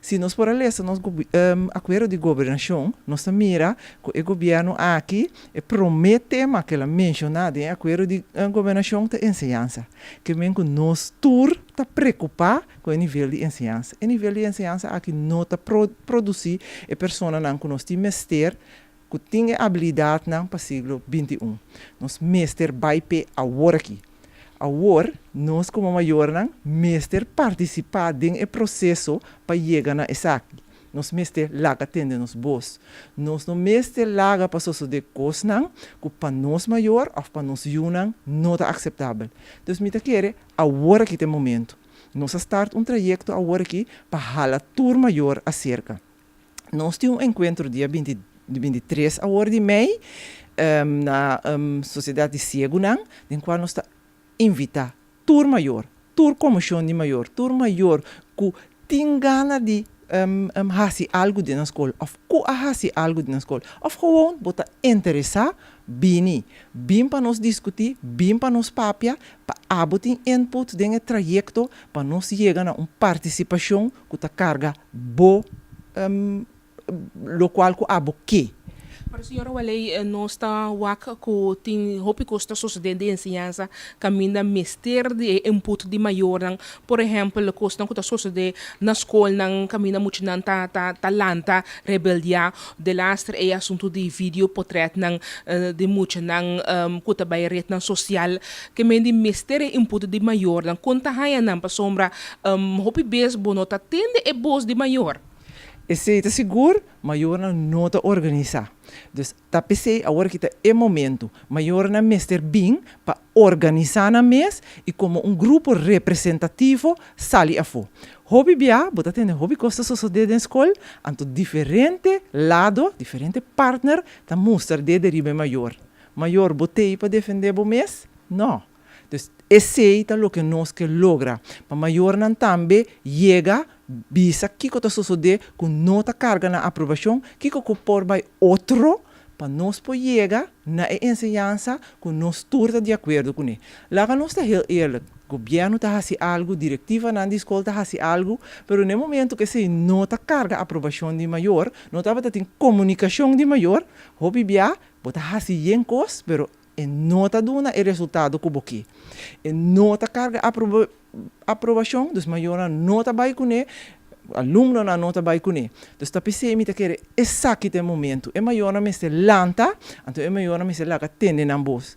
Si nos por a lesa nos Akuerdo di Gobernashon, nos ta mira ku e gobièrnu aki, e promé tema ku el a menshoná den e Akuerdo di Gobernashon ta enseñansa. Ke men ku nos tur ta preokupá ku e nivel di enseñansa. E nivel di enseñansa aki no ta produsí e personanan ku nos tin mester ku tin e abilidatnan pa siglo binti un. Nos mester bai p'e awor aki. Awor, nos komo mayornan mester partisipá den e proseso pa yega na esaki. Nos mester laga tende nos bos. Nos no mester laga pa sosodé kosnan ku pa nos mayor òf pa nos yunan no ta akseptabel. Dus mi ta kere awor aki ta e momentu. Nos a start un trayekto awor aki pa hala tur mayor aserka. Nos tin un enkuentro dia bintitres awor di mei na Sosiedat di Siegunan, den kual nos ta invitá tur mayor, tur komoshon di mayor, tur mayor ku tin gana di hasi algu den nan skol òf ku a hasi algu den nan skol òf gewoon bo ta interesá, bini. Bin pa nos diskutí, bin pa nos papia, pa abo tin input den e trayekto pa nos yega na un partisipashon Ku ta karga bo, lokual ku abo ke. Pero señora Waley nos ta wak ku tin hopi kos ta sosodé den enseñansa kaminda mester di e input di mayornan. Por ehèmpel kosnan ku ta sosodé na skolnan kaminda muchanan ta ta lanta rebeldiá De laster e asuntu di video potretnan di muchanan ku ta bai retnan sosial ke men di mester e input di mayornan. Kon ta haña nan pasobra hopi bes bo no ta tende e bos di mayor? Esei ta sigur, Mayornan no ta organisá. Dus ta p'esei awor ki ta e momentu. Mayornan mester bin pa Organisá nan mes i komo un grupo representativo sali afó. Hopi bia bo ta tende hopi kos ta sosodé den skol, anto diferente lado, diferente partner ta mustra dé de riba e mayor. Mayor, bo t'ei pa defendé bo mes? No. Entonces, esei ta loke nos ke logra, pa mayornan tambe yega Bisa kiko ta sosodé ku no ta karga na aprobashon, kiko ku por bai otro pa nos por yega na e enseñansa ku nos tur ta di akuerdo kuné. Laga nos ta hel eerlik, gobièrnu ta hasi algu, direktivanan di skol ta hasi algu, pero na e momentu ku esei no ta karga aprobashon di mayor, no tabata tin komunikashon di mayor, hopi bia bo ta hasi yen kos, pero E no ta duna e resultado cu bo ki. E no ta carga aprobacion, dus mayornan no ta bay cune, alumnonan no ta bay cune. Dus ta pesey mi ta kere esaki ta e momento. E mayornan mester lanta, anto e mayornan mester laga tende nan bos.